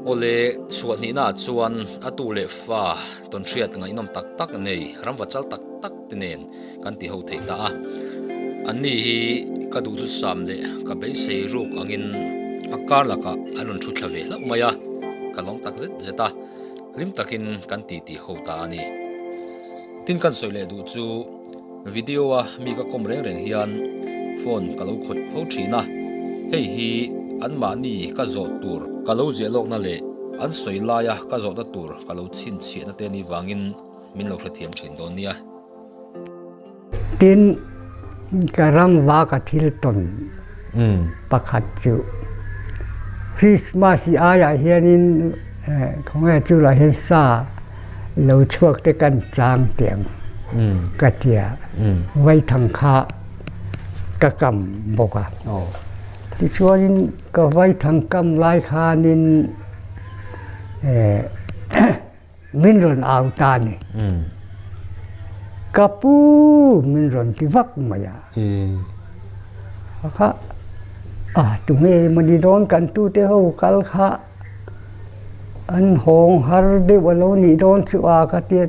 Awle, chhuah hnihna ah chuan a tu leh fa tawnhriat ngaihnawm tak tak nei, rangva chal tak tak te nen kan ti ho thei ta a. An ni hi ka duhthusam leh ka beisei ruk angin a kar lakah an rawn thu thla ve hlauh mai a, ka lawm tak zet zet a, hlim takin kan titi ho ta a ni. Tin kan sawi leh duh chu. Video a mi ka kawm reng reng hian phone ka lo khawih fo thin a, hei hi an mahni ka zawt tur ka lo ziah lawkna leh an sawi laia ka zawtna tur ka lo chhinchhiahna te ni vangin min lo hrethiam thin dawn nia. Tin, ka rangva ka thil tawn pakhat chu Christmas i aiah hianin khawnge chu lah hian sa Lo chhuak te kan chang tih ang ka ti a, vaithang kha ka kam bawk a. Tichuan in ka vaithang kam lai khan in min rawn au ta a ni. Ka pu min rawn ti vak mai a. Kha tunge mawni dawn kan tu te ho kal kha. An hawng har deuh a lo nih dawn chu a ka ti a,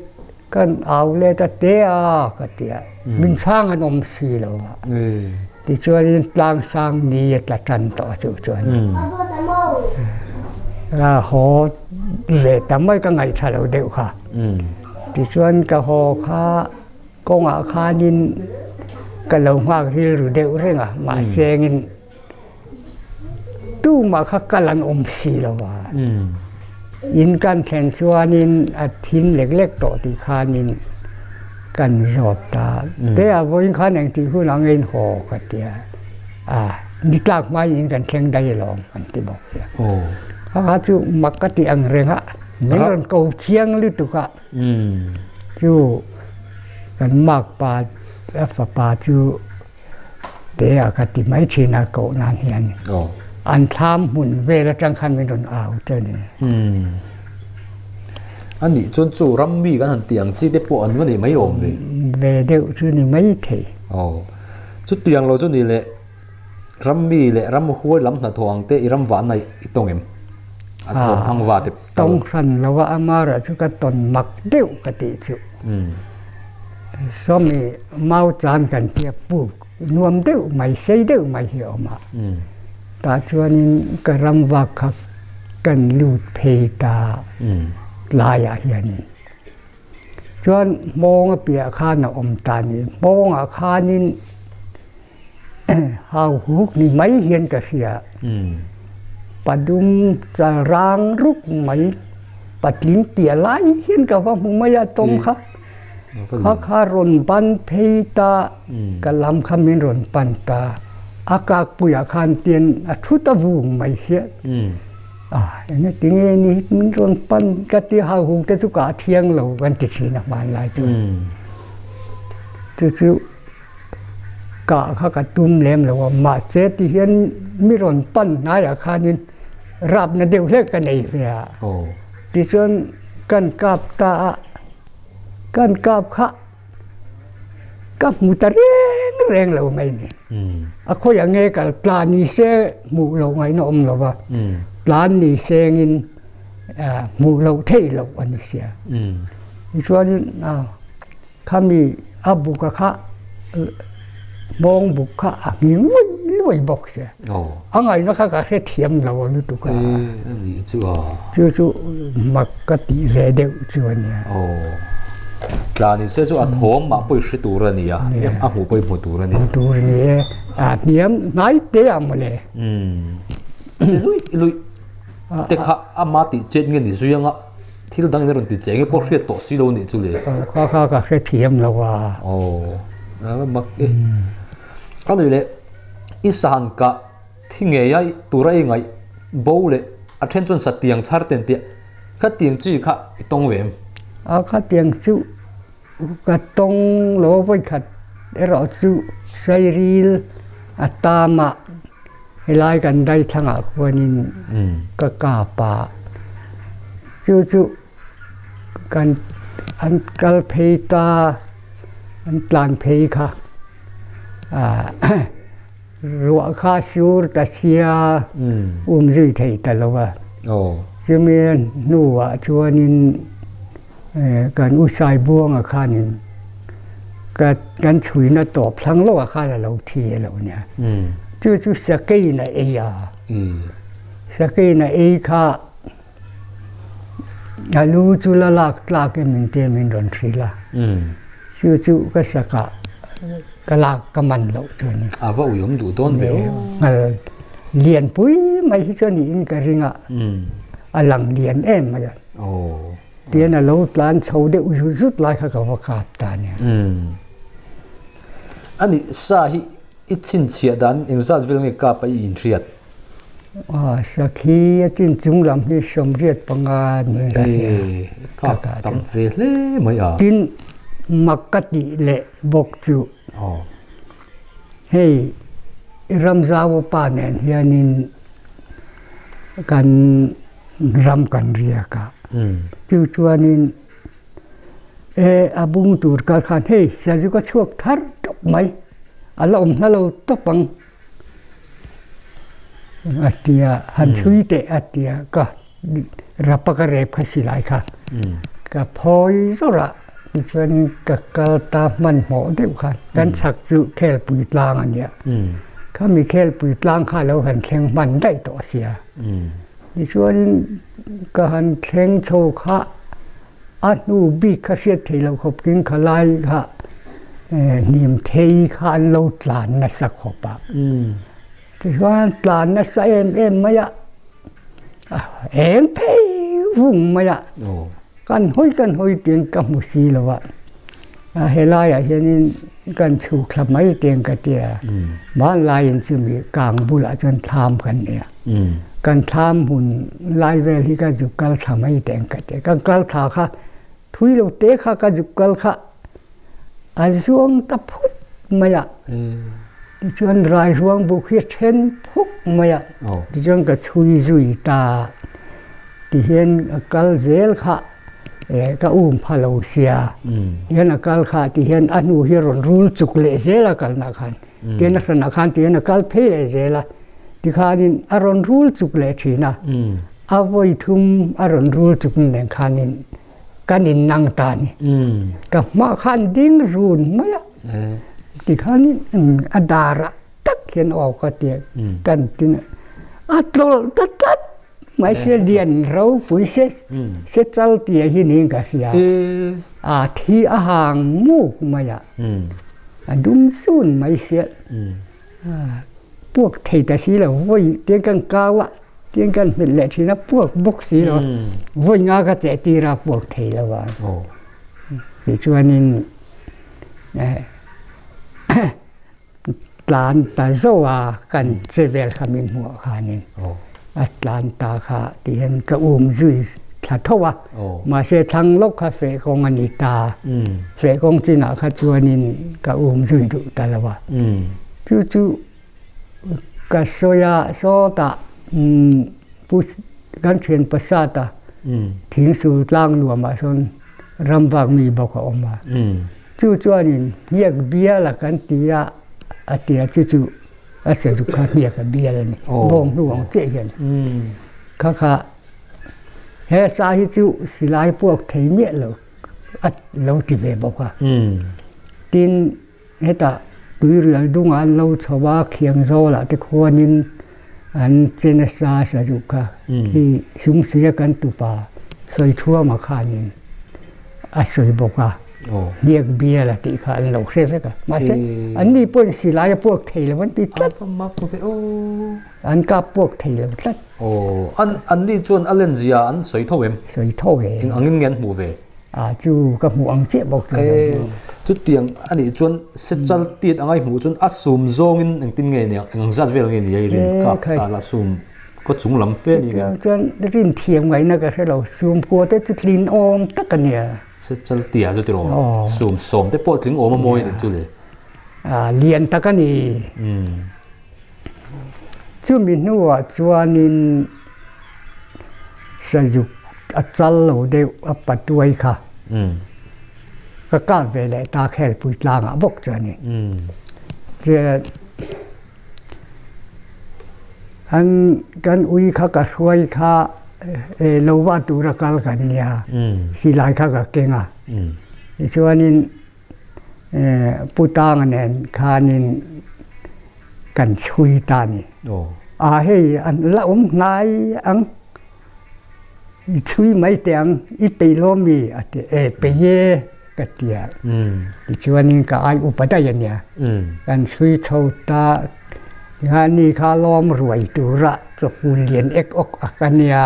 kan au let a te a ka ti a, min sang an awm si lo a, tichuanin tlang sang ni a tla tan tawh a chu chuan a haw ve ta mai ka ngaih tha lo deuh kha, tichuan ka haw kha kawngah khanin ka lo nghak rilru deuh reng a mahse engin Tumah kha kal an awm si lo a, in kan thlen chuanin a thim lek lek tawh tih khanin kan zawt ta, Teia vawiin khan eng tih hunah a ngain haw ka ti a, ah ni tlak hmai niin kan thleng daih alawm kan ti bawk a ni. Kha kha chu mak ka tih ang reng a, min rawn ko chiang lutuk a, chu kan makpa fapa chu, Tih a ka ti mai thin a koh nan hian ni. An thlam hmun vel atang khan min rawn au te ni. A nih chuan chu ram mi kan han tih ang chi te pawh an va nei mai awm ve. Ve deuh chu ni mai thei. Aw. Chu tiang lo chu ni le ram mi le ram huai lam hnathawh ang te i ram vana i tawng em? A thawm thang va te. Tawng hran lo a amarah chu ka tawn mak deuh ka tih chuh. Sawmi mau chan kan tia puk nuam deuh mai sei deuh mai hi a awm a. Tah chuanin ka rangvak kha kan lut phei ta tlaiah hianin chuan hmawng a piahah khan a awm ta ni. Hmawngah khanin Hau huk ni mai hian ka hria. Padum chal rang ruk mai patling tia lai hian ka va hmu mai a tawng kha. Kha kha rawn ban phei ta, ka lam kha min rawn pan ta. A kakpui ah khan tian a thu ta vung mai sia. Enge tinge ni min rawn pan ka tia hau huk te chu ka a thiang lo kan ti thin a hmanlai chu. Chu chu. kah kha ka tum lem lo a mahse tihian mi rawn pan hnaiah khanin rapna deuh hlek ka nei hle a tichuan kan kap ta a kan kap kha ka hmu ta reng reng lo mai ni a khawi ange ka tla ni se hmuh loh ngei na awm lova tlan ni seng in hmuh loh theih loh a ni sia tichuan a Khami a buka kha bawng buk kha a hmi luai luai bawk che. A ngaina kha ka hrethiam lo a lutuk a. Chu chu mak ka tih ve deuh chu a nia. Tlan in se chu a thawm mah pawi hre tur a nia. A hmuh pawih hmu tur a nia. Hmu tur a nia. A hniam hnai te ang mawle. Luih luih te kha ama tih chet nge ni zui ang a. Thil dang in a rawn ti cheng e pawh hriat tawh silo anih chu le. Kha kha ka hre thiam lo a. Aw, aa mak e. A ni le, i sahan ka thi ngei a, tura i ngaih bo le a then chuan satiang chhar ten tih a, khatiang chi kha i tawng ve em? A khatiang chu. Ka tawng lo vawi khat erawh chu sairil a tam a helai kan dai thlang ah khuan in ka kap a chu chu kan an kal phei ta an tlan phei kha a Ruah kha sur ta sia, um zui thei ta lo a. Chumi a hnuah chuanin kan U Sai Buanga khanin ka kan chhuina tawp thlang loh a khan a lo thi a lo nia. Chu chu sakeiin a ei a, sakeiin a ei kha. A lu chu la lak tlak em in tih em in rawn hril a. Chu chu ka sak ah ka lak ka man loh chu a ni. A va uiawm duh dawn ve o. Nghal lian pui mai hi chu a nih in ka ring a, a lang lian em mai a. Tian a lo tlan chho deuh zut zut lai kha ka va kap ta a nia. Anih sa hi i chhinchhiah dan engzat vel nge kap a i inhriat? Aw sakhi a chin chung lam hi somriat panga ni ka hria ka ka tam ve hle mai a tin mak ka ti le bawk chu aw hei ram zau a pa nen hian in kan ram kan ria ka chu chuan in e a bung tur kal khan hei zel chu ka chhuak thar tawp mai a la awm hla lo tawp ang. a ti a han thui teh a ti a ka rap a ka rep kha si lai kha ka phawi zawrh a tichuan in ka kal ta hman hmawh deuh kha kan chhak chu khelpui tlang a nia khami khelpui tlang kha lo han thleng hman daih tawh a sia tichuan in ka han thleng chho kha A hnu bik kha hriat theih loh khawp keng kha lai kha hnim thei kha an lo tlan nasa khawp a. Tichuan tlan nasa em em mai a, a eng phei vung mai a, kan hawi kan hawi tiin ka hmu si lo a. He laiah hianin kan chhuk thla mai te ang ka ti a, hmanlaiin chumi kang bulah chuan thlam kan nei a, kan thlam hun lai vel hi ka zuk kal thla mai te ang ka ti a, kan kal thla kha thui lo te kha ka zuk kal kha a zuang ta phut mai a, tichuan Rairuang buk hi a then phuk mai a, tichuan ka chhui zui ta tihian a kal zel kha eh ka um pha lo sia hian a kal kha tih hian a nu hi a rawn rul chuk leh zel a kalna khan tin a hran ah khan tih hian a kal phei leh zel a tikhan in a rawn rul chuk leh thin a a vawi thum a rawn rul chuk nen khan in kan in nang ta ni ka hma khan ding run mai a tikhan in a dar ah tak hian a awk a tih a kan ti a a tlawl ta tlat. Hmaise lian ro pui se se chal tia hi niin ka hria. A thi a hang muk mai a. A dum sun mai se. Puak thei ta si lo vawi tiang kan kau a tiang kan hmet leh thin a puak bawk si lo. Vawi nga ka cheh tir a puak thei lo a. Tichuan in Tlan ta zauh a kan che vel kha min hmuh a khan in a tlan ta kha tih hian ka um zui thla thauh a. Mahse thlang lawk kha feh kawng a ni ta. Feh kawng chin ah kha chuan in ka um zui duh ta lo a. Chu chu ka sawi a sawt ah pu kan thian pasat a thing sultlang nuam ah sawn ram vak mi bawk a awm a. Chu chuanin hniak bial a kan ti a, a tia chu chu a sazuk kha hniak a bial a ni, bawng hnu ang chiah hian kha kha he sa hi chu silai puak thei miah lo a lo ti ve bawk a, tin hetah tui rial dungah an lo chho a, khiangzawlah te khuanin. An chena sa sa duh kha khi sumsuia kan tupa sawi thuam a khan in a sawi bawk a, hniak bial a tih kha an lo hre vek a, mahse an ni pawhin silai a puak thei lo an ti tlat, an kap puak thei lo tlat. Aw, an ni chuan a len zia an sawi tho em? Sawi tho em. Engangin nge an hmuh ve? Ah chu ka hmuh ang chiah bawk chu. He chutiang a nih chuan sechal tiat angai hmuh chuan a sum zawngin engtin nge nia eng zat vel nge nia i rin kap ta la sum khaw chung lam fe ni ngei. Chuan rin thiam ngaihna ka hrelo sum kua te chu tlin awm tak a nia. Sechal tia chu tilo sum sawm te pawh tling awm a mawi a nih chu le. Ah lian tak a ni. Chumi hnuah chuanin Sazuk a chal lo deuh a patuai kha ka kah ve leh ta khelpui tlangah bawk chuanin chuan an kan ui kha ka hruai kha eh lohva tura kal kan nia silai kha ka keng a tichuanin. Pu Tanga nen khanin kan chhui ta a ni. A hei la awm ngai ang, i chhui mai teh ang, i pei lawm mi? a ti a, e pei e ka ti a, tichuanin ka ai upaday a nia, kan chhui chho ta, tikhan ni kha lawm ruai tura chawhpun lian ek awk a ka nia,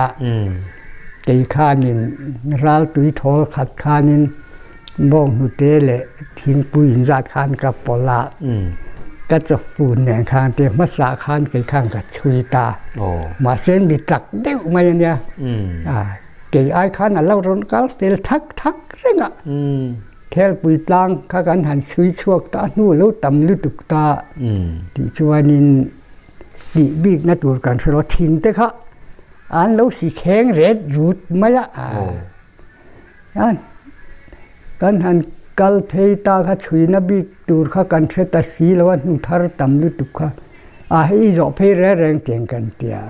kei khanin ral tui thawl khat khanin, Bawng hnute leh thingpui in zat khan ka pawlh a, ka chawhput nen khan te hmasa khan kei khan ka chhui ta, mahse mi tlak deuh mai a nia, kei ai khan a lo rawn kal fel thak thak reng a, thelpui tlang kha kan han chhui chhuak ta a hnu a lo tam lutuk ta tih chuan in tih bik na tur kan hre lo, thingte kha an lo si kheng ret rut mai a. Chuan kan han kal phei ta kha chhuina bik tur kha kan hre ta si lo a, hnu thar tam lutuk kha a hi i zawh phei reng reng tiang kan ti a,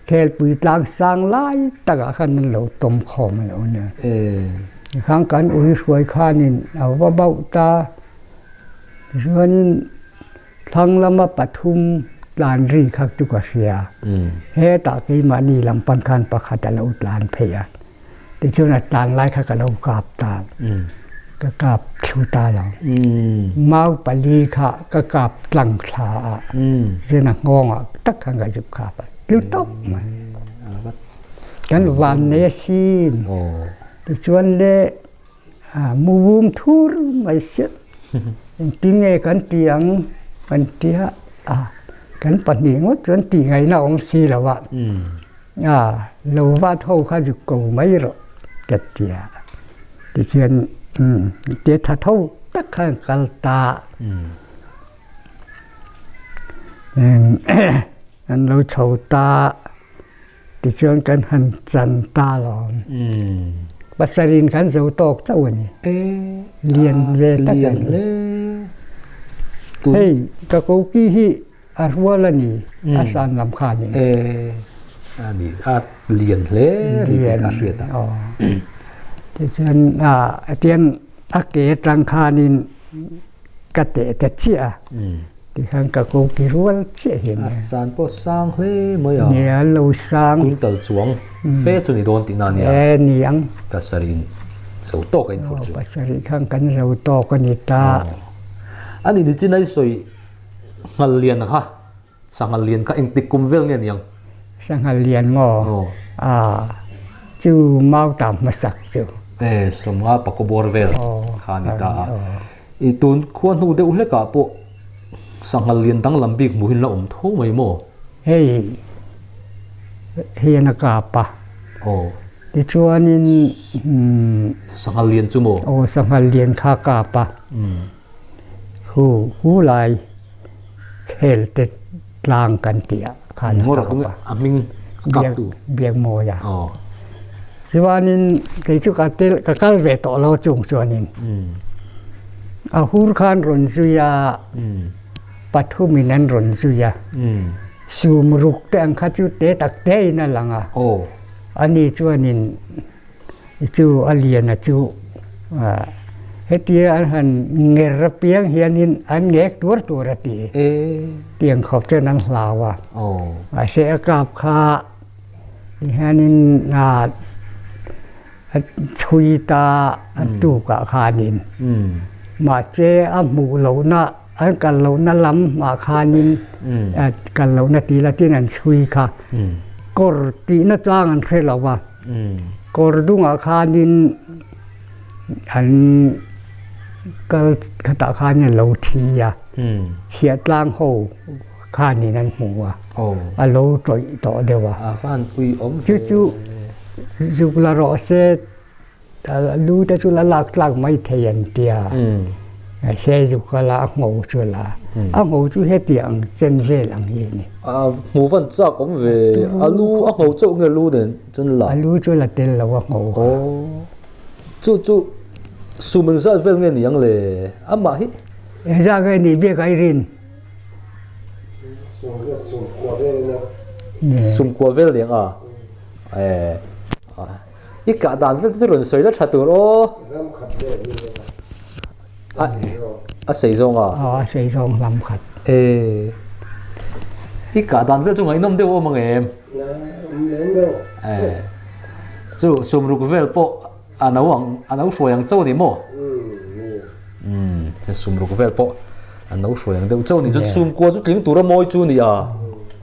khelpui tlang sang lai takah khan an lo tawm khawm lo nia, tikhang kan ui hruai khanin a va bauh ta, tichuanin Thlang lama pathum tlan ri kha chu ka hria. Hetah keimahni lam pan khan pakhat a lo tlan phei a, tichuan a tlan lai kha ka lo kap ta, ka kap thlu ta lo. Mau pali kha ka kap tlang thla a, chuan a nghawng ah tak khan ka zuk kap a, tlu tawp mai. Kan vannei a sin, tichuan le. Mu vum thur mai se engtin nge kan ti ang kan ti a a kan pahnih ngawt chuan tih ngai na awm si lo a a lo vat ho kha zuk ko mai rawh ka ti a tichuan te tha tho tak khan ka kal ta an lo chho ta. Tichuan kan han chan ta lawm. Pasarih kan zo tawk chauh a ni. Lian ve tak a ni. Hei ka koki hi a rual a ni a san lam khanin. A ni a lian hle a ni tih ka hriat a. Tichuan a ke atang khanin ka teh ta chiah a. Tihian ka ko ti rual chiah hian nia. A san pawh sang hle mai a. Nia an lo sang. Kum tal chuang fe chu ni dawn tih na nia. E ni ang. Pasarih in zo tawk a in phur chu. Pasarih khan kan zo tawk a ni ta. A ni ni chin a i sawi Nghalian kha Sanghalian kha eng tik kum vel nge ni ang? Sanghalian maw? Aw. A chu mau ta hmasak chu. E sawmnga pakua bawr vel kha a ni ta a. I tun khua hnu deuh hlekah pawh sangha lian danglam bik hmuh in la awm tho mai maw? Hei hian a kap a. Aw. Tichuanin sangha lian chu maw? Aw sangha lian kha a kap a. Hu hulai khel te. tlang kan tia khan ngor tung a ming biak tu biak moi a o chuanin kei chu ka tel ka kal ve to lo chung chuanin a hur khan run zuia pathum in an run zuia sum ruk te ang kha chu te tak te in a langa o ani chuanin i chu a lian a chu hetia an han nger apiang hianin an ngek tuar tur a ti e tiang khaw chuan an hlau a mahse a kap kha tihianin a chhui ta an tukah khanin mahse a hmuh lohna. An kal lohna lam mah khanin kal lohna tih ila tin an chhui kha kawr tihna chang an hre lo a kawr dungah khanin an kal khatah khanin lo thi a chhiah tlang ho khanin an hmu a a lo tawih tawh deuh a chu chu zuk la rawh se. Lu te chuan a lak tlak mai thei an ti a, Saezu kala a ngho chu la, a ngho chu hetiang ang chen vel ang hi a ni. A hmu van chak awm ve, a lu a ngho chauh nge lu nen chuan la? A lu chu la tel lo a ngho a. Aw, chu chu suhmeng zat vel nge ni ang le? Amah hi? Eng zat nge ni biak a i rin? Sumkua vel nen a? Ae. I kah dan vek te chu rawn sawi la tha tur aw. A sei zawng a? Aw, a sei zawng lam khat. E, i kah dan vel chu ngaihnawm deuh a awm ang em? E, chu sum ruk vel pawh a no ang, a no hruai ang chauh ni maw? Umm, sum ruk vel pawh a no hruai ang deuh chauh ni. Chuan sum kua chu tling tur a mawi chu nia.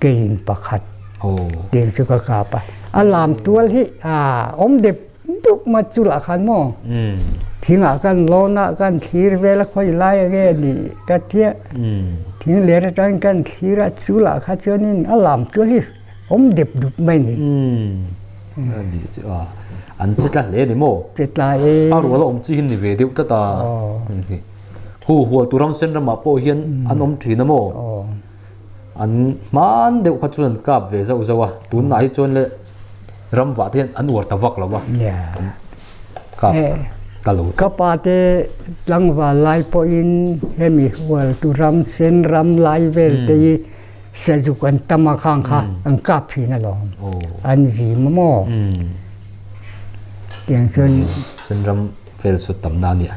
Kei in pakhat tih ang chu ka kap a, a lam tual hi aah awm dep dup mai chu lah khan maw thing ah kan lawn a kan thlir vel a khawi lai ang e ni ka chiah thing ler aṭang kan thlir a chu lah kha chuan in a lam tual hi awm dep dup mai ni. An che tla hle ni maw? Che tla e. A rual a awm chi hi ni ve deuh tlat a, hu hual tu ram sen ram ah pawh hian an awm thin a maw? An hman deuh kha chuan an kap ve zauh zauh a, tunah hi chuan le ram vah te hian an uar ta vak lo a. Kap ta lo. Ka pa te tlangval lai pawhin hemi hual tu ram, sen ram lai vel te hi sazuk an tam a khang kha an kap thin alawm. An zim a maw? Tiang chuan. Sen ram vel sut tam na a nia.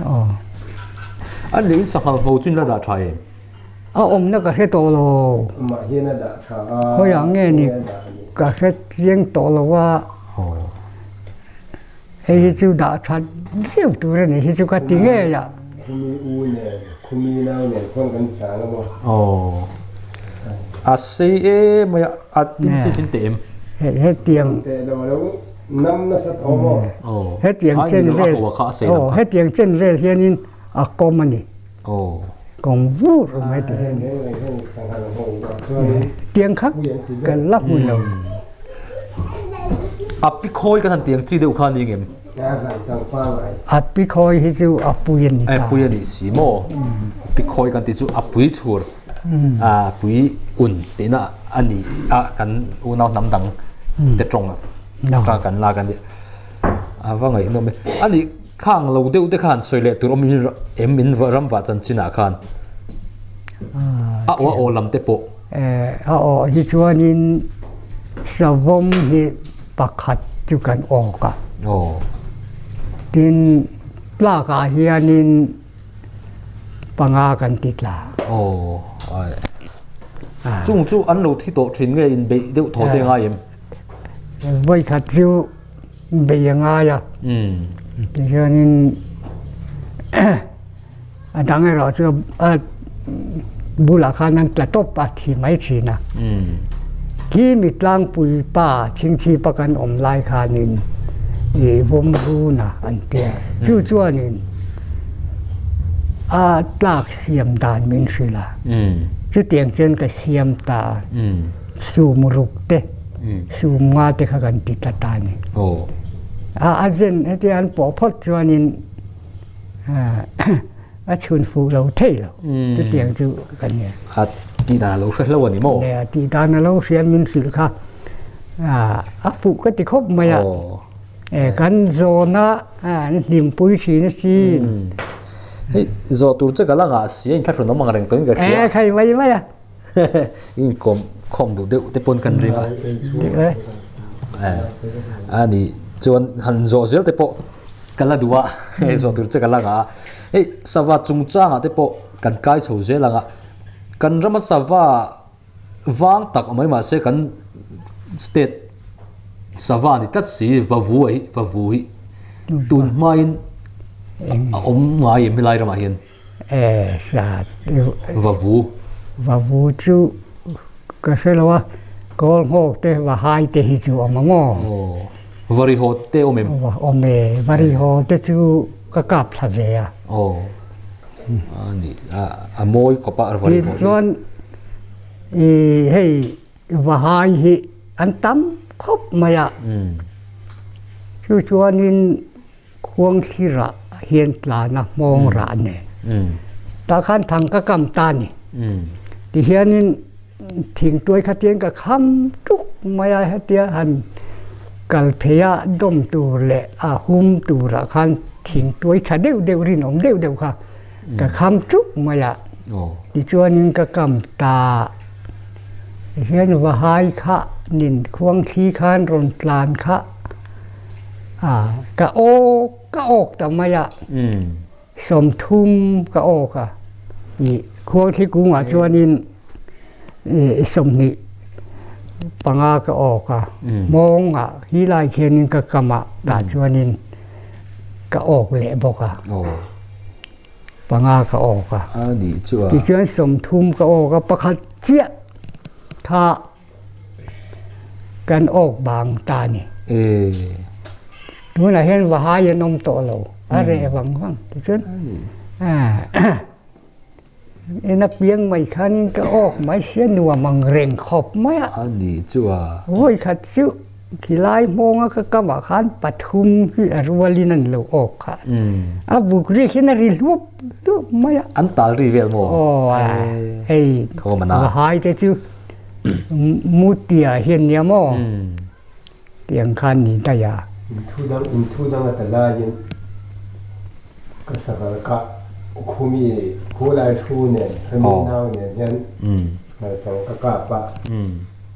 An leh in sanghal hau chu in la dah tha em? A awmna ka hre tawh lo. Hawiah nge ni ka hre tliang tawh lo a. Hei hi chu dah tha deuh tur a nih hi chu ka ti ngei a. A sei em mai a, a tin chi sin teh em? Hetiang chen vel hian in a kawm a ni. Aw. Kawng vur awm e ti hian tiang kha kan la hmu lo. Api khawi kan han ti ang chi deuh kha ning em? Api khawi hi chu apui ani ta. Apui ani si mo. Api khawi kan ti chu apui chhur. A pui un te na ani a kan unau nam dang te tawng a. Tang kan la kan ni. Avangai nom e. Ani Kha ang lo deuh te khan sawi leh tur awm in em min ram vah chanchin ah khan a aw a aw lam te pawh. Eh, a aw hi chuan in savom hi pakhat chu kan awk a. Aw. Tin tlak ah hian in panga kan ti tla. Aw, ai. Ah. Chung chu an lo thi tawh thin nge in beih deuh tho te ngai em? Vawi khat chu beih a ngai a tihianin a dang erawh chu a bulah khan an tla tawp a thi mai thin a khi mi tlangpui pa chhingchhipa kan awm lai khanin i vawmruna an tia chu chuanin a tlak siam dan min hrilh a chutiang chuan ka siam ta sumruk te sumnga te kha kan ti ta ta ni a a zen heti an pawh phawt chuan in a chhun fuh lo thei lo chu tiang chu kan nia a ti dan lo hre hlo ani mo ne a ti dan lo hriam min hrilh kha a a fuh ka ti khawp mai a e kan zona a an hlim pui thin a si hei zawh tur che ka langa sia in thlahrun awm ang reng tawin ka hria e khai mai mai a in kawm khawm duh deuh te pawh kan ring a a ni chuan han zawh zel te pawh ka la duh a he zawh tur che ka la nga a hei sava chung changa te pawh kan kai chho zel ang a kan rama sava vang tak mai ma se kan state sava ni tlat si va vu hi va vu hi tun hmain a awm ngai em helai rama hian E hria vavu vavu chu ka hre lo a kawl nghawk te vahai te hi chu awm ang aw varihaw te awm em awm e varihaw te chu ka kap thla ve a aw ani a a mawi khawp a varihaw chuan i hei vahai hi an tam khawp mai a chu chuan in Khuanghlira hian tlana hmawng rah nen ta khan thang ka kam ta ni ti hianin thing tuai kha tian ka kham tuk mai a hetia han kal phei a dawm tur leh a hum tura khan thing tuai tha deuh deuh rinawm deuh deuh kha ka kham tuk mai a tichuanin ka kam ta tihian vahai kha nen khuangthli khan rawn tlan kha a ka awk ka awk ta mai a sawmthum ka awk a ih khuangthli kungah chuanin i sawmhnih panga ka awk a mawngah hi lai khianin ka kam a tah chuanin ka awk leh bawk a panga ka awk a tichuan sawmthum ka awk a pakhat chiah tha Kan awk vang ta ni. Tunah hian vahai an awm tawh lo, a reh vang vang. Tichuan ina piang mai khanin ka awk mai sia nuam ang reng khawp mai a. Ani chuan. Vawi khat chu. Khilai hmawng a ka kam ah khan pathum hi a rual in an lo awk kha. A buk ri khin a ri hlup hlup mai a. An tal ri vel maw? Aw hei va hai te chu Muti ah hian nia maw? Tih ang khan ni daih a. In thu dang in thu dang a ta lai in ka sava ka kah khumi khulai thu nen family nau nen hian hmarchang ka kap a.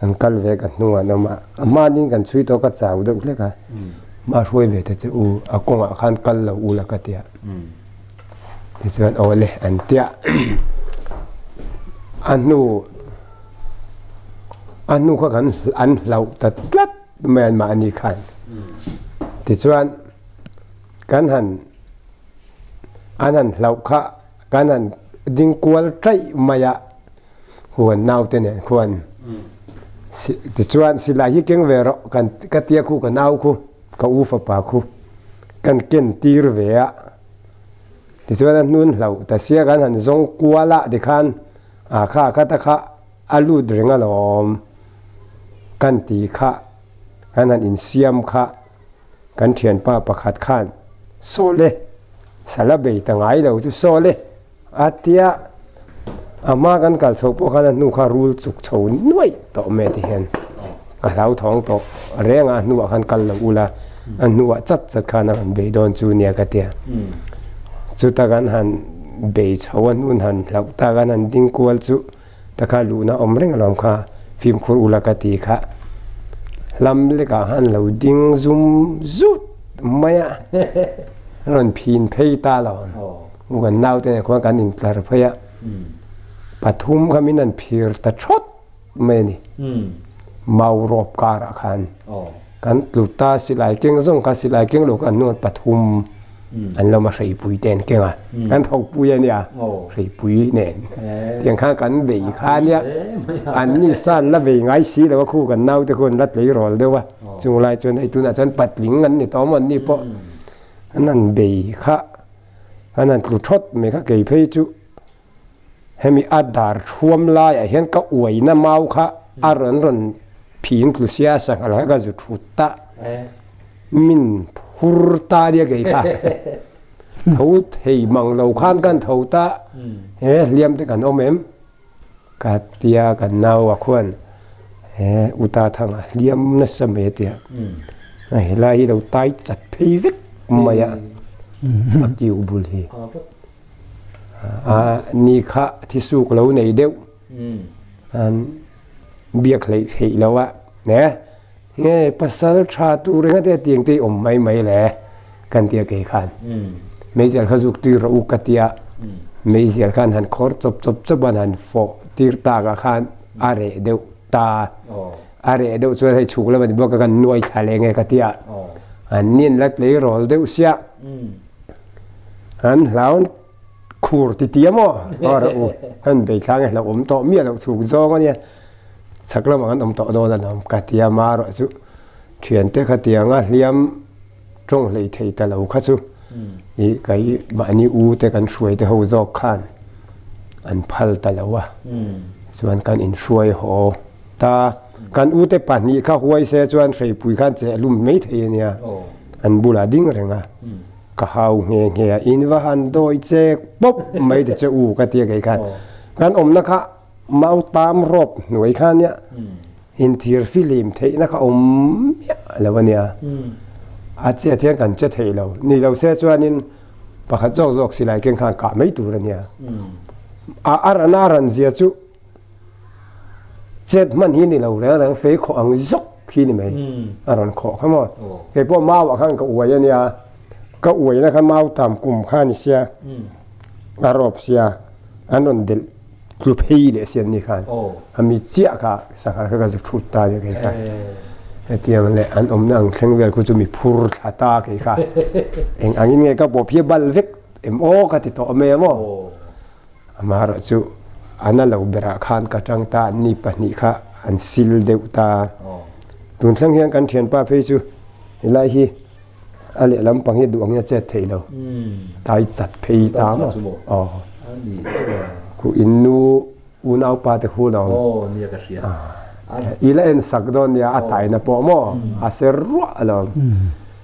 Kan kal ve ka hnungah an awm a, a hmanin kan chhui tawh ka chau deuh hlek a, mah a hruai ve ta che u, a kawngah khan kal lo ula ka ti a. Tichuan aw le an ti a, a hnu a hnu kha kan an hlauh ta tlat mai an mah ani khan. Tichuan kan han an han hlauh kha. Kan an ding kual taih mai a, huan naute nen khuan tichuan silai hi keng ve rawh kan ka tia khu ka nau khu ka u fapa khu kan ken tir ve a, tichuan a hnun hlauh ta sia kan han zawng kual a tikhan a kha ka ta kha a lut reng alawm kan tih kha kan han insiam kha. Kan thianpa pakhat khan, Saul e, sala bei ta ngai lo chu Saul e, a tia. A hma kan kal chhoh pawh khan a hnu kha rul chuk chho nuaih tawh mai ti hian ka hlauthawng tawh reng a, a hnuah khan kal lo ula, a hnuah chat chat khan a rawn bei dawn chu nia ka tia. Chuta kan han bei chho a hnu han hlauh ta kan han ding kual chu, Taka luhna awm reng alawm kha fimkhur ula ka ti kha hlam lekah han lo ding zum zut mai a, an rawn phin phei ta lo. U kan naute nen khuan kan in tlar phei a, pathum kha min han phir ta thawt mai a ni, mau rawp karah khan. Kan tlu ta, silai keng zawng kha silai keng lo kan nawn pathum an lawm a, hreipui te an keng a, kan thawkpui a nia, hreipui nen. Tiang khan kan bei kha nia, an ni san la vei ngai si lo a, khu kan nau te khuan la tlei rawl deuh a, chung lai chuan hei tunah chuan patling an ni ta awm an ni pawh an han bei kha, an han tlu thawt mai kha kei phei chu. hemi a dar thuam laiah hian ka uaina mau kha a rawn rawn phing tlu sia a sangha leh ka zu thut ta min phur ta nia kei kha tho thei mang lo khan kan tho ta he hliam te kan awm em ka tia kan nau a khuan he uta thang a hliam na sa mai a tia a helai hi lo tai chat phei vek mai a a kiu bul hi ni kha thi suk lo nei deuh an biak hlei thei lo a ne nge pasal tha tu renga te tiang te om mai mai le kan tia ke khan mei zel kha zuk tir u ka tia mei zel khan han khor chop chop chop an han fo tir ta ka khan a re deuh ta a re deuh chuan hei chuk lo ni bo ka kan nuai tha le nge ka tia an nian lat lei rol deuh sia An hlaun khur ti ti emaw hawr a u kan bei thlang e hlauh awm tawh miah loh chhuk zawng ania chhak lamah kan awm tawh dawn alawm ka ti a mah erawh chu thiante kha tianga hliam tawng hlei thei ta lo kha chu i kai mahni u te kan hruai te ho zawk khan an phal ta lo a chuan kan inhruai haw ta. Kan ute pahnih kha huai se chuan hreipui khan che a lum mai thei a nia, an bul a ding reng a, ka hau nghe nghe a, in va han dawi che pawp mai ti che u ka ti a kei khan. Kan awmna kha mau tam rawp hnuai kha nia in thir filim theihna kha awm miah lo a nia, a chet hian kan che thei lo, ni lo se chuanin pakhat zawk zawk silai keng khan kah mai tur a nia, a a rana a rawn zia chu. Chet hman hi ni lo reng reng fei khawh ang zawk khi ni mai a rawn khawh kha maw kei pawh mau ah khan ka uai a nia ka uai na khan mau tam kum kha ni sia a rop sia an rawn delh tlu phei leh si an ni khan a mi chiah kha sangha kha ka zu thut ta nia kei kha hetiang le an awm na ang thleng vel khu chu mi phur thla ta kei kha eng angin nge ka pawp hi a bal vek em aw ka ti tawh a maw. Amah erawh chu an a lo berah khan ka tang ta an ni pahnih kha an sil deuh ta. Tun thleng hian kan thianpa phei chu he lai hi a leh lampang hi duh angin a chet theih lo. Tai chat phei ta maw. Khuh in nu unaupa te hun ang. I la en sak dawn nia a taina pawh maw a ser ruah a lo.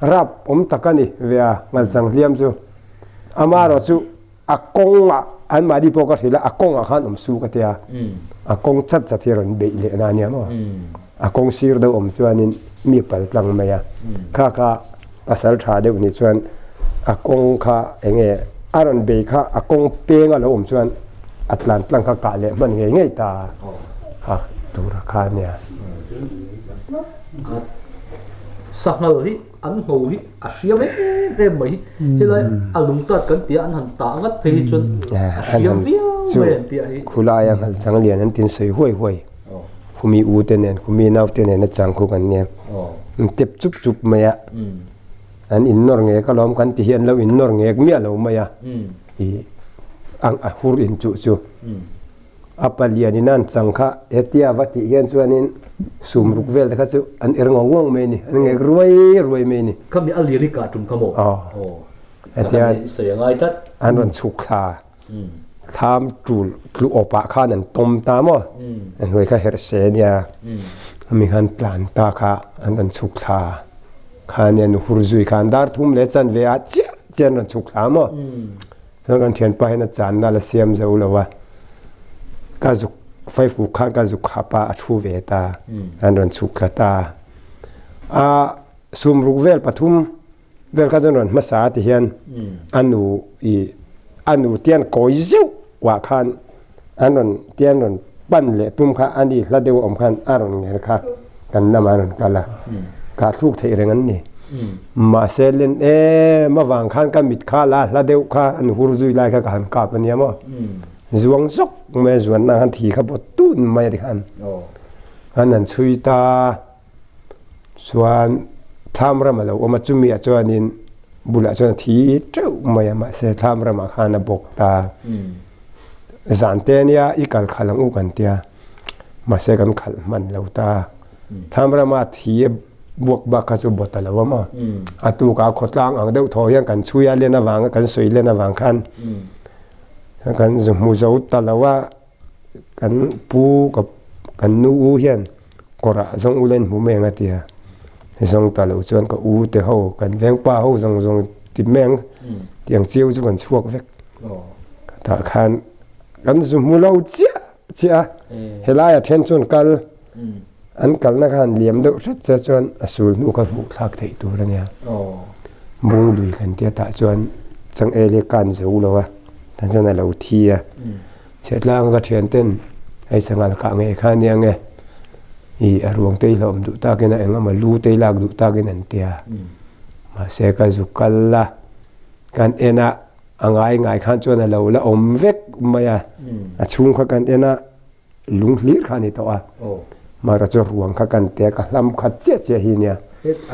rap awm tak a ni ve a, Ngalchang hliam chu. Ama erawh chu a kawngah an mahni pawh ka hrilh a, a kawngah khan awm su ka ti a. A kawng chat chat hi rawn beih leh na ania maw? A kawng sir deuh awm chuanin mi pal tlang mai a. Kha kha pasal tha deuh ni chuan a kawng kha eng nge a rawn bei kha a kawng peng a lo awm chuan a tlan tlang kha kah leh hman ngei ngei ta a, a tura kha ania. Sahngal hi an hno hi a hriam em em mai. Helai a lungtat kan tia an han tah ngat phei hi chuan a hriam viau mai an tih a hi. Khulaia Nghalchang lian an tin sawi huai huai. Khumi u te nen, khumi nau te nen a changkhuk an nia. An tep chup chup mai a. An innawr ngek alawm kan tih hi an lo innawr ngek miah lo mai a. I a hur inchuh chu. A palian in an chang kha hetia va tih hian chuanin sum ruk vel te kha chu an er ngawng ngawng mai a ni, an ngek ruai ruai mai a ni. Khami a lirik kah a tum kha maw? Aw. Hetian an sawi a ngai tlat. An rawn chhuk thla, thlam tul tlu awp ah khan an tawm ta maw? A hnuai kha herh se a nia. Khami khan tlan ta kha an rawn chhuk thla khan nen, hur zui khan dar thum leh chanve ah chiah chiah an rawn chhuk thla maw? Chuan kan thianpa hian a chan nal a siam zo lo a, ka zuk faifuk khan ka zuk hap a, a thu ve ta, an rawn chhuk tla ta. A sum ruk vel pathum vel kha chuan rawn hmasa a ti hian a nu i a nu tian kawi zeuh ah khan an rawn tia an rawn pan leh tum kha a ni hla deuh awm khan a rawn ngher kha kan lamah a rawn kal a, kah thluk theih reng an ni. Mahse len em avang khan ka mit kha la hla deuh kha an hur zui lai kha ka han kap a nia maw? Zuang zawk mai a zuan na khan thi kha bawt tun mai a ti khan an han chhui ta. chuan thlam ram a lo awm a chumi ah chuanin bulah chuan a thi teuh mai a mahse thlam ramah khan a bawk ta zan te nia i kal khalh ang u kan tia mahse kan khalh hman lo ta thlam rama thi a buak bak kha chu bawt a lo awm a a tukah a khawtlang ang deuh thaw hian kan chhui a len avanga kan sawi len avang khan kan hmu zo ta lo a. Kan pu ka kan nu u hian kawrah zawng ula in hmuh mai ang a tia, hei zawng ta loh chuan ka u te ho kan vengpa ho zawng zawng ti mai ang tih ang chiu chu kan chhuak vek. Tah khan kan zu hmu lo chiah chiah a, he laia then chuan kal. An kalna khan liam deuh hret che chuan a sul hnu kha hmuh thlak theih tur a nia. Mung lui thlen te atah chuan changel hi ka an zo lo a, tia chuan a lo thi a. Chhiahtlang ka thian ten hei sangal kah ngei kha nia nge i a ruang te i hlawm duh tak in a eng emaw lu te i lak duh tak in an tia. Mahse ka zu kal a, kan en a a ngai ngai khan chuan a lo la awm vek mai a. A chhung kha kan en a Lung hlir kha ani tawh a. Mahra chu ruang kha kan tia ka hlam khat chiah chiah hi nia.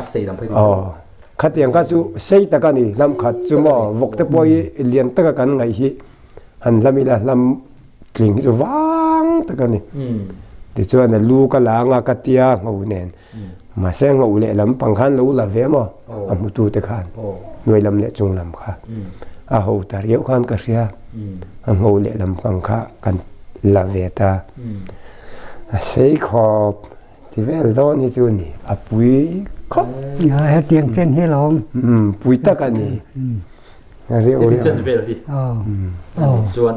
A sei dang phei mai tawh. Khatiang kha chu sei tak a ni hlam khat chu maw vawk te pawh hi lian taka kan ngaih hi han hlam ila hlam tling hi chu vang tak a ni. Tichuan a lu ka la anga ka tia ngho nen. Mahse a ngauh leh lam pang khan lo la ve maw a hmutu te khan hnuai lam leh chung lam kha a ho ta riau khan ka hria a ngauh leh lam pang kha kan la ve ta a sei khawp ti vel dawn hi chu ni a pui khawp hetiang chen hi lo awm pui tak a ni riau riau chen vel hi aw aw chuan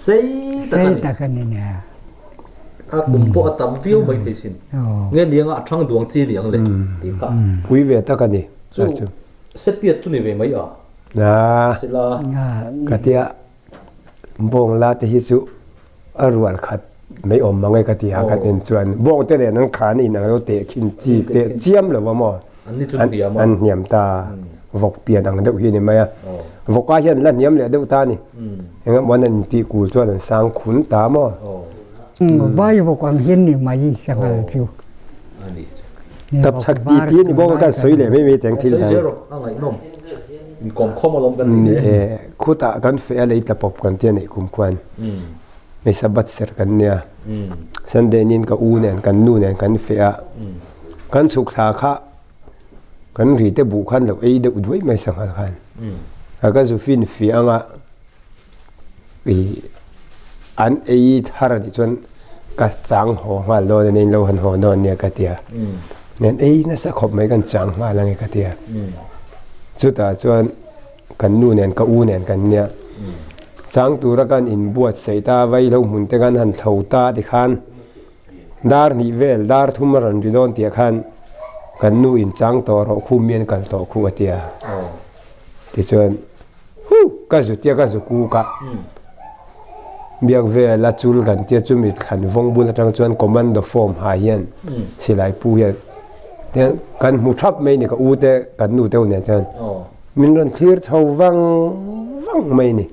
sei tak a ni. A kum pawh a tam viau mai thei sin. Nge nianga a thang duang chi liang le? tih kha. Pui ve tak a ni. Chu Setpiat chu ni ve mai a? Sila. Ka tia, Bawngla te hi chu a rual khat mai awm ange ka ti a, ka nen chuan. Bawngte nen an khan in alo tehkhin chi teh chiam lo va maw? an hniam ta a, vawk pian ang deuh hi a ni mai a, vawkah hian la hniam leh deuh ta a ni, engemaw an intih kul chuan an sang khun ta maw? Vai vawk ang hi a ni mai i sangha chu. Tapchhak ti ti a ni bawk a, kan sawi leh mai mai teng thil hi. Khutah kan feh a lei tla pawp kan ti a neih kum khuan hmeichhe bat ser kan nia, Sunday nin ka u nen kan nu nen kan feh a, Kan chhuk thla kha kan ri te buh khan lo ei deuh duai mai sangha khan a ka zu fin fi anga i an ei thar ni chuan ka chang ho nghal dawn nen lo han ho dawn nia ka tia nen ei na sa khop mai kan chang nghal ange ka tia chuta chuan kan nu nen ka u nen kan nia chang tura kan in buat sei ta vai lo hmun te kan han thlo ta ti khan Dar hnih vel dar thum a rawn ri dawn tih ah khan kan nu in chang tawh rawh khu mi an kal tawh khu a ti a. Tichuan hu ka zu tia ka zu kuk a. Biak vel a chul kan tia chumi thlan vawng bul atang chuan commando form ha hian silai pu hian hian kan hmu thap mai ni ka u te kan nu te nen chuan min rawn thlir chho vang vang mai ni.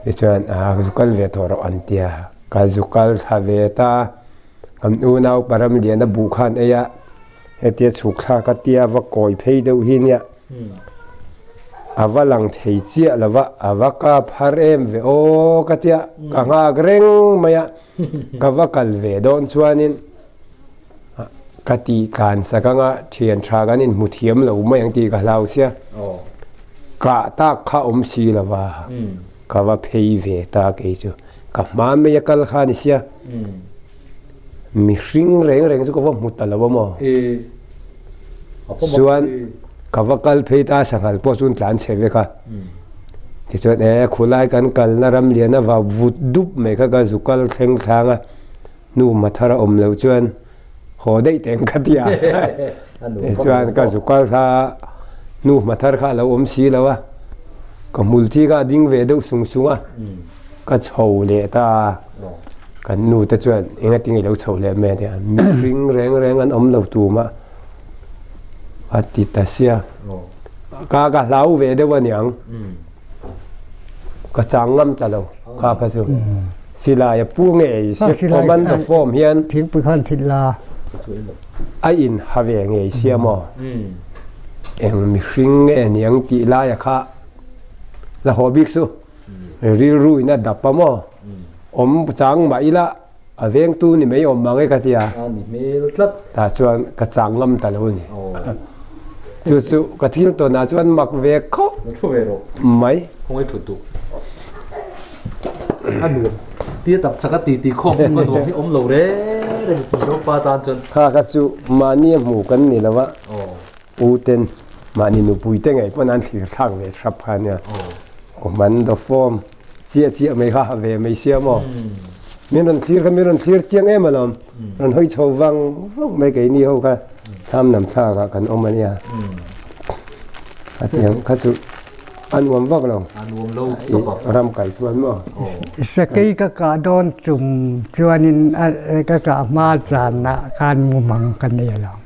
Tichuan aa ka zu kal ve tawh rawh an tia. Ka zu kal thla ve ta, kan u naupa Ramliana buh khan ei a, hetia chhuk thla ka tia a va kawi phei deuh hi nia, a va lang thei chiah lo va, a va kap har em ve aw ka tia ka nghak reng mai a, ka va kal ve dawn chuanin ka ti tlan sak anga thian tha kan in hmu thiam lo mai ang tih ka hlau sia, kah tak kha awm si lo va. Ka va phei ve ta kei chu ka hma mai a kal kha nisia mihring reng reng chu ka va hmu ta lo a maw chuan ka va kal phei ta sanghal pawh chuan tlan chhe vek a tichuan e khulai kan kalna ram lian avau vut dup mai kha ka zu kal thleng thlang a nu mathar a awm lo chuan Haw daih teh ang ka ti a, tichuan ka zu kal hla a, nu hma thar kha a lo awm si lo a, ka hmul chi kha a ding ve deuh sung sung a, ka chho leh ta a, kan nu te chuan eng atinge i lo chho leh mai a nia, mihring reng reng an awm lo tu mah a ti ta sia, ka ka hlau ve deuh a niang. ka chang ngam ta lo kha kha chu silai a pu nge ei se command the form hian thingpui khan thil la a in ha ve nge ei se maw eng mihring nge niang ti lai a kha la haw bik chu rilru in a dap a maw awm chang mah ila A vengtu ni mai awm mang e ka ti a. A ni hmel tlat. Tah chuan ka chang ngam ta lo ni. Chu chu ka thil tawn ah chuan mak ve khawp. Ka thu ve rawh. Mai. Khawngaih thut duh. A nuam tia tak chhaka ti ti khawp ka nuam hi awm lo reng reng pu Zopa tan chuan. Kha kha chu mahni a hmuh kan ni lo a. U ten mahni nupui te ngei pawn an thlir thlak ve thrap kha nia. Ka hman dawp fawm. Chiah chiah mai kha a ve mai sia maw? Min rawn thlir kha min rawn thlir chiang em alawm. Rawn hawi chho vang vang mai keini ho kha Thlamnam thlakah kan awm a nia. Hetiang kha chu a nuam vak lo. A nuam lo tawp a. Ram kai chuan maw? Sakei ka kah dawn tum chuanin ka kah hma chanah khan mumang ka nei alawm.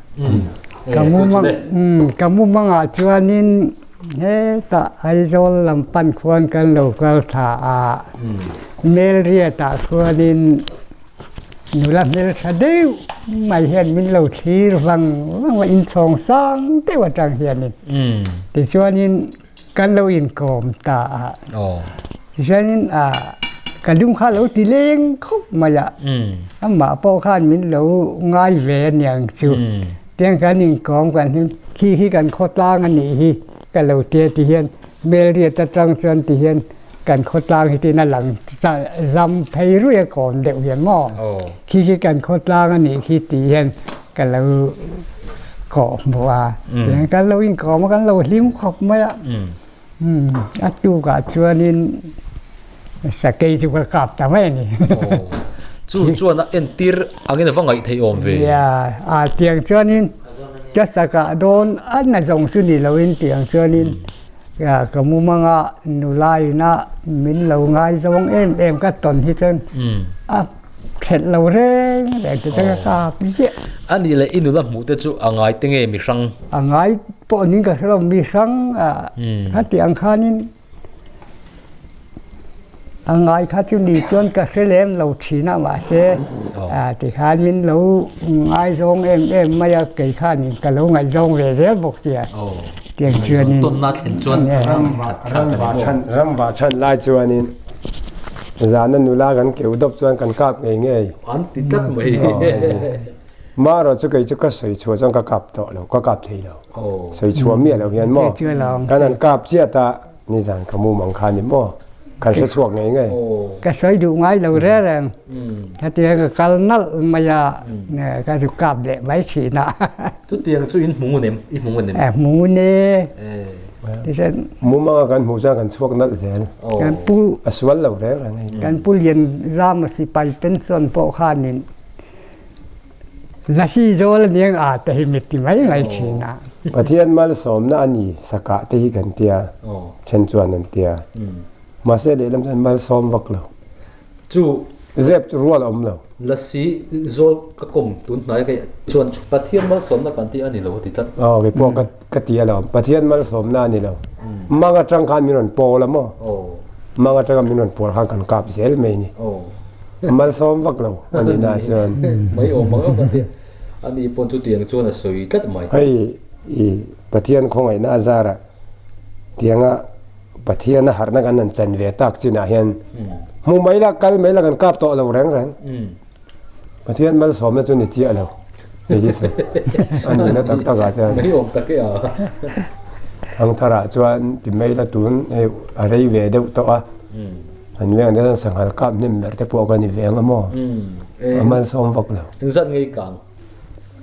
Ka mumang, ka mumangah chuanin. Hetah Aizawl lam pan khuan kan lo kal tha a, Melriatah chuanin nula hmeltha deuh mai hian min lo thlir vang vang a, inchhawng sang deuh atang hianin tichuanin kan lo inkawm ta a, tichuanin a ka dum kha lo ti leng khawp mai a, amah pawh khan min lo ngai ve aniang chu. Tiang chuan inkawm kan hi khi hi kan khawtlang a nih hi ka lo ti a ti hian Melriat atang chuan ti hian kan khawtlang hi tin a lang ta zam phei ruih a kawm deuh hian maw khi hi kan khawtlang a nih khi ti hian ka lo kawh hmu a tiang kan lo inkawm a kan lo hlim khawp mai a. A tukah chuanin sakei chu ka kap ta mai a ni. Chu chuan a entir angin a va ngaih theih awm ve. Nia, a tiang chuanin ka sakah dawn a na zawng chu ni lo in tiang chuanin ka mumanga nulaiin a min lo ngaizawng em em ka tawn hi chuan a. Thlen lo reng reng te changa ka ziah. A nih leh i nula hmuh te chu a ngai te nge mihrang? A ngai pawh ning ka hrelo mihrang a kha tih ang khanin a ngai kha chu ni chuan ka hre lem lo thin a mahse tikhan min lo ngaizawng em em mai a kei khan ka lo ngaihzawng ve zel bawk sia tiang chuan in. Tawnna thlen chuan rang va than rang va than lai chuan in Zana nula kan keu dawp chuan kan kap ngei ngei. An ti tlat mai. Marawh chu kei chu ka sawi chhuah chuan ka kap tawh lo, ka kap thei lo. Sawi chhuah miah lo hian maw? Kan an kap chiat a, nizan ka mumang kha a ni maw? Kan hre chhuak ngei ngei. Ka sawi duh ngai lo reng reng. Ka ti ang ka kal nalh mai a, ka zu kap leh mai thin a. Chutiang chu in hmung un em? I hmung un em? A hmung un e. Tichuan. Mumanga kan hmuh chuan kan chhuak nalh zel. Kan pu. A sual lo reng reng a ni. Kan pu lian zama sipai ten chuan pawh khanin Nasi zawl a nia a te hi mi ti mai mai thin a. Pathian malsawmna a ni sakah te hi kan tia then chuan an tia. Mahse lehlam chuan malsawm vak lo. chu zep chu rual a awm lo. Lasi zawl ka kawm tun hnai ka chuan Pathian malsawmna kan tih a ni lo ti tlat. Aw kei pawh ka ti a lo, Pathian malsawmna a ni lo. Mang atang khan min rawn pawl a maw? Mang atanga min rawn pawl khan kan kap zel mai a ni. Malsawm vak lo a nih na chuan. Mai awm ang ang a nia. A ni pawh chu tiang chuan a sawi tlat mai. Hei i Pathian khawngaihna a zara tianga Pathiana harhna kan han chan ve tak chinah hian hmuh mai la, kal mai la kan kap tawh lo reng reng. Pathian malsawmna chu ni chiah lo. A nihna tak takah chuan. Mei awm tak e a. Thangtharah chuan ti mai la tun hei a rei ve deuh tawh a. Kan veng dan asan sanghal kap hnem ber te pawh ka ni ve ang a maw? A malsawm vak lo. Engzat ngei kang.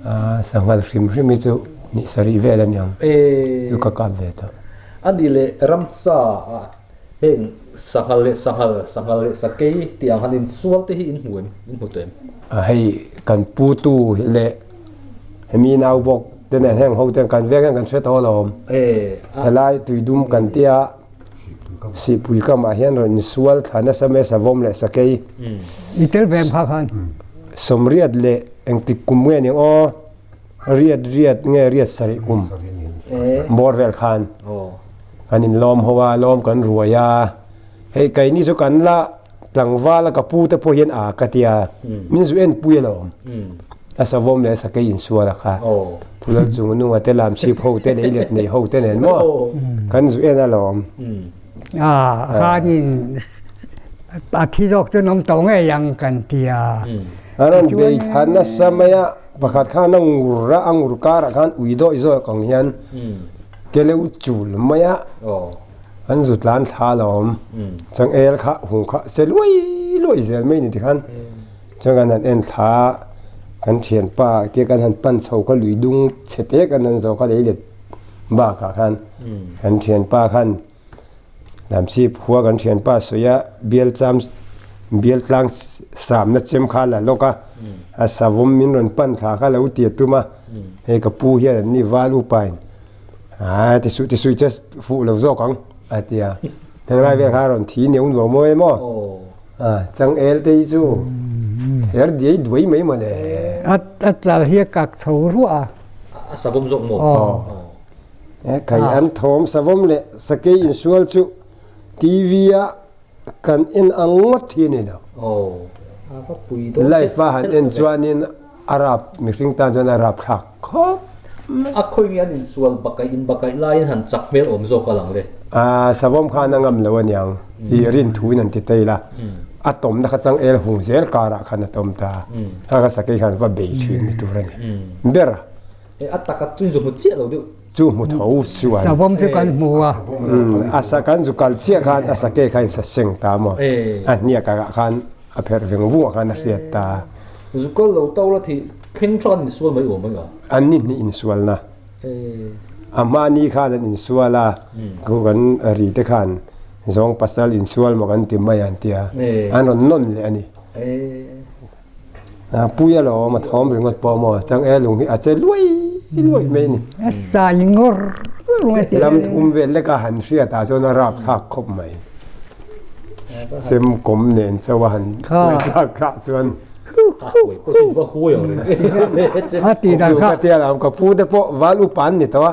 Aa, sangha hrim hrim hi chu nih sarih vel a ni ang. Chu ka kap ve ta. A ni le, ramsa ah heng sangha leh sangha, sangha leh sakei tih ang han insual te hi in hmu em? In hmu tawh em? Aa, hei kan pu tu leh hemi nau bawk te nen heng ho ten kan veng hian kan hre tawh alawm. Helai tui dum kan tia. Sihpui kam ah hian rawn insual thla nasa mai a Savawm leh Sakei. I tel ve em kha khan. Sawmriat leh engtik kum nge ni aw? Riat riat nge riat sarih kum? Bawr vel khan kan inlawm ho a, lawm kan ruai a. Hei kaini chu kan la. Tlangvala ka pu te pawh hian a ka tia, min zu en pui alawm. A savawm leh a sakei insual a kha. Tulal chung a nunga te lamchhip ho te lei let nei ho te nen maw kan zu en alawm. A khanin a thi zawk chuan awm tawh ngei ang kan tia. A rawn bei thla nasa mai a, pakhat khan a ngur a, a ngur karah khan ui dawih zawih kawng hian ke lo chul mai a. an zut lan thla a lawm chuan el kha hung kha se luai luai zel mai a ni ti khan chuan kan han en thla a kan thianpa te kan han pan chho kha lui dung chhe te kan han zawh kha lei let bakah khan kan thianpa khan lam sip khua kan thianpa sawi a bial cham bial tlang samna chem kha la lawk a a savawm min rawn pan thla kha lo ti a tum a hei ka pu hian an ni Valuepa in. Aa, ti su ti sui che fuh lo zawk ang a ti a. Thang lai vel kha rawn thi neuh nuam maw em aw. A chang el te hi chu her diai duai mai mawle. A a chal hi a kak chho ruah a. A savom zawk maw? Aw. Kai an thawm savom leh sakei insual chu TV a. Kan en ang ngawt hi a ni lo. Life a han en chuanin a rap mihring tan chuan a rap thlak khawp mai. A khawi nge an insual bakai inbakai laiin han chak hmel awm zawk a lang le. Savawm khan a ngam lo a niang. I rin thuin an ti tail a. A tawmna kha changel hung zel karah khan a tawm ta a. Kha kha sakei khan va bei thin ni tur a ni. Ber. A taka chu inzawhmut chiah lo deuh. Chu hmu tho chuan. Savawm chu kan hmu a. A sa kan zu kal chiah khan a sakei kha in sa seng ta maw? A hniah karah khan a pherh veng vung ah khan a hriat ta. Zu kal lo tau la thih thleng tha kan in sual mai aw mai a. An ni hnih in sual na. A hma ni khan an in sual a, khu kan ri te khan zawng pasal in sual maw kan ti mai an tia. An rawn nawn leh a ni. Puia lo awm a thawm ringawt pawh maw chang e, lung hi a che luai luai mai a ni. A sai ngawr ngawr a ti. Lam thum vel leka han hriat ah chuan a rap thlak khawp mai. Semkawm nen chauh a han huai thlak thlak chuan ka pu te pawh val upa an ni tawh a.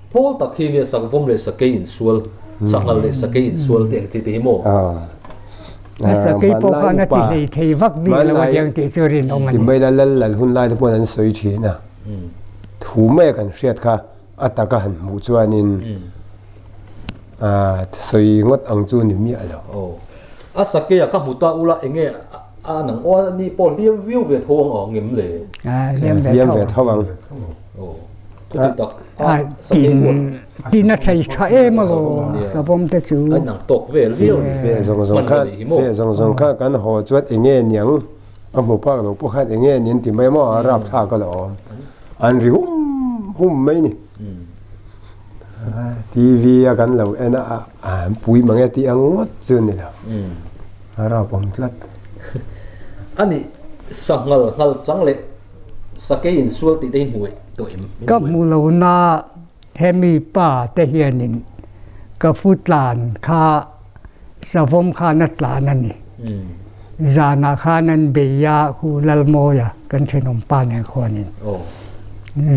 Pawl tak hi nia sak vawm leh sakei insual, sak ngal leh sakei insual te ang chi te hi maw? A sakei pawh khan a ti hlei thei vak bik lo a diang tih chu a rinawm a ni. Timai la lal lal hun lai te pawh an sawi thin a, thu mai a kan hriat kha a tak a han hmuh chuan in sawi ngawt ang chu ni miah lo. Aw. A sakei a ka hmu ta ula eng nge a nang aw a ni pawh hliam viau ve tho ang aw ngem le? Hliam ve tho ang. tina thei tha em a lawm a savawm te chu ve zawng zawng khan ve zawng zawng khan kan haw chuan eng nge niang a hmu phak lo pawh khan eng nge niang ti mai maw a rap thlak a la awm an ri hum hum mai ni TV a kan lo en a an pui mang e tih a ngawt chu ni lo a rap awm tlat ani sanghal nghal chang leh Sakei in sual tih te hi hmuh tawh em? Ka hmu lo na hemi pa te hian in ka fu tlan kha savawm khan a tlan a ni. Zan ah khan an bei a hu lalmawi a kan thenawm pa nen khuan in.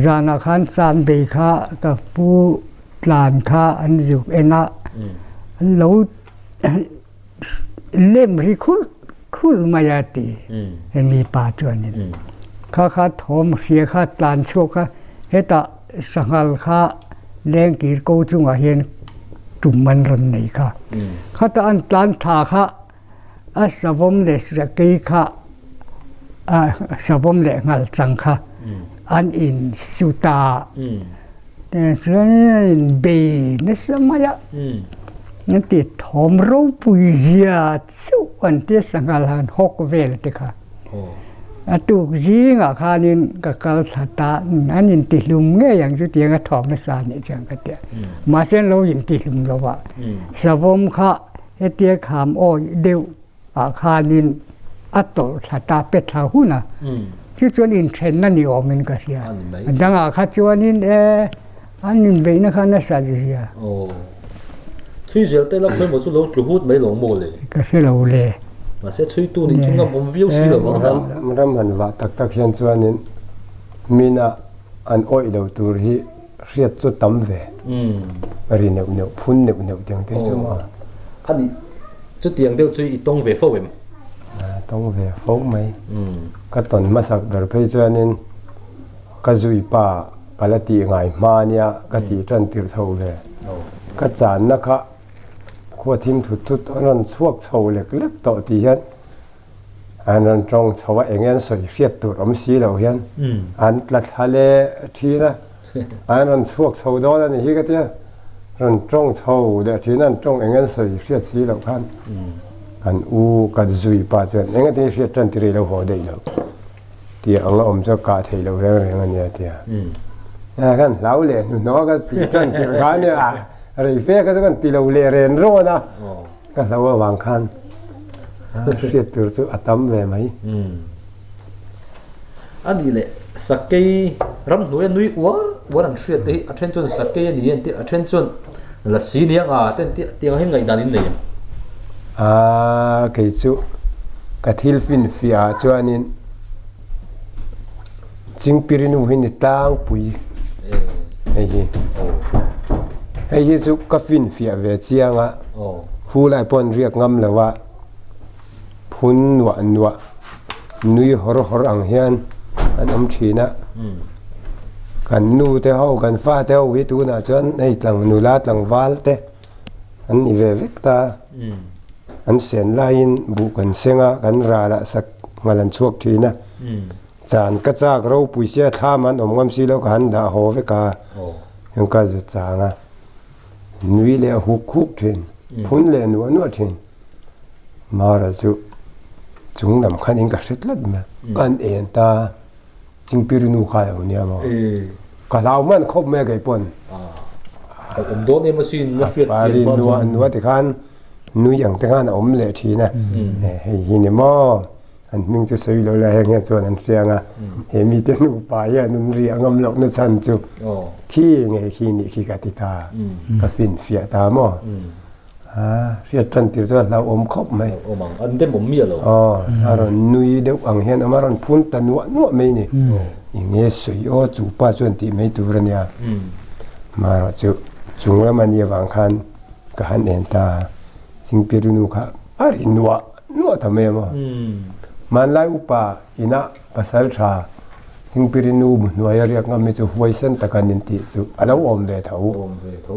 Zan ah khan chan bei kha ka fu tlan kha an zuk en a an lo lem ri khulh khulh mai a ti hemi pa chuan in kha kha thawm hria kha tlan chhuak a heta sanghal kha lengkir ko chunga hian tum an rawn nei kha kha ta an tlan tha kha a savom leh sakei kha a savom leh ngal chang kha an in su ta chuan a in bei nasa mai a an ti thawm ropui zia chauh an ti a sangha la an hawk vel te kha a tuk zingah khanin ka kal thla ta an in ti hlum ngei ang chu tiang a thawm nasa a nih chuan ka ti a mahse an lo in ti hlum lo a savawm kha hetia kham awi deuh. Ah khanin a tawlh thla ta pe thla hun a, chu chuan inthenna ni awmin ka hria. A dangah kha chuanin e an inbeihna kha nasa zia. Aw. Chhui zel te la pawimawh chu lo tlu hut mai lo maw le? Ka hre lo le. Mahse chhui tu nih chu ngam awm viau si lo ang a. Ram han vah tak tak hian chuanin mina an awih lo tur hi. Hriat chu tam ve. Ri neuh neuh, phun neuh neuh tiang te chu maw? A ni. Chutiang deuh chu i tawng ve fo em? A tawng ve fo mai. Ka tawn hmasak ber phei chuanin ka zui pa ka la tih ngai hma ania ka tih tan tirh chho ve. Ka channa kha khuathim thut thut a rawn chhuak chho lek lek tawh tih hian. an rawn tawng chho a eng an sawi hriat tur awm si lo hian an tla thla leh thin a, an rawn chhuak chho dawn a nih hi ka ti a, rawn tawng chho leh thin a, an tawng eng an sawi hriat si loh khan kan u kan zui pa chuan eng ati hriat tan tih rei lo haw daih loh tia anga awm chu a kah theih loh reng reng a nia a ti a, a khan hlau leh hnuhnawh a ka tih tan tirh khan nia rei fe kha chu ka han ti lo leh ren rawn a. Ka hlo avang khan hriat tur chu a tam ve mai. A nih leh sakei ramhnuaia nui uar uar an hriat te hi a then chuan sakei a ni en tih a then chuan la si ni anga te an tih tiang hi ngaih dan in nei ang. A kei chu ka thil finfiah ah chuan in Ching pirinu hi ni tlang pui hei hi hei hi chu ka fin fiah ve chiang a hu lai pawh an riak ngam lo a phun nuah nuah nui hawr hawr ang hian an awm thin a kan nu te ho kan fa te ho hi tunah chuan hei tlang nula tlangval te an ni ve vek ta. an sian laiin buh kan seng a, kan ralah sak nghal an chhuak thin a. Chan ka chak ropui sia thlam an awm ngam si lo ka han dah haw vek a, chuan ka za chang a, nui leh a huk huk thin, phun leh a nuah nuah thin. Mara chu chunglam khanin ka hre tlat mai a, ka han en ta a. Chingpiri nu kha emaw nia emaw. Ka hlau man khawp mai kei pawn. Awm dawn em asi nula hriat chian pawn. Nua nua ti khan nui ang te khan a awm leh thin a. Hei hi ni maw. An hming chu sawi loh la heng hian chuan an hriang a. He mite nupa hian an ri angam loh na chhan chu khi nge khi nih khi ka ti ta. Ka finfiah ta maw. A hriat tan tir chuan a hlau awm khawp mai. Awm ang, an dem awm miah lo. Aw, a rawn nui deuh ang hian a awm a, a rawn phun ta nuah nuah mai a ni. Enge sawi aw chu pa chuan tih mai tur a nia. Mah erawh chu chung lam a ni avang khan ka han en ta a, Chingpirinu kha a ri nuah nuah ta mai a maw. Hmanlai upa inah pasal tha Chingpirinu hnuaia riak ngam hi chu huaisen tak an intih chu a lo awm ve tho.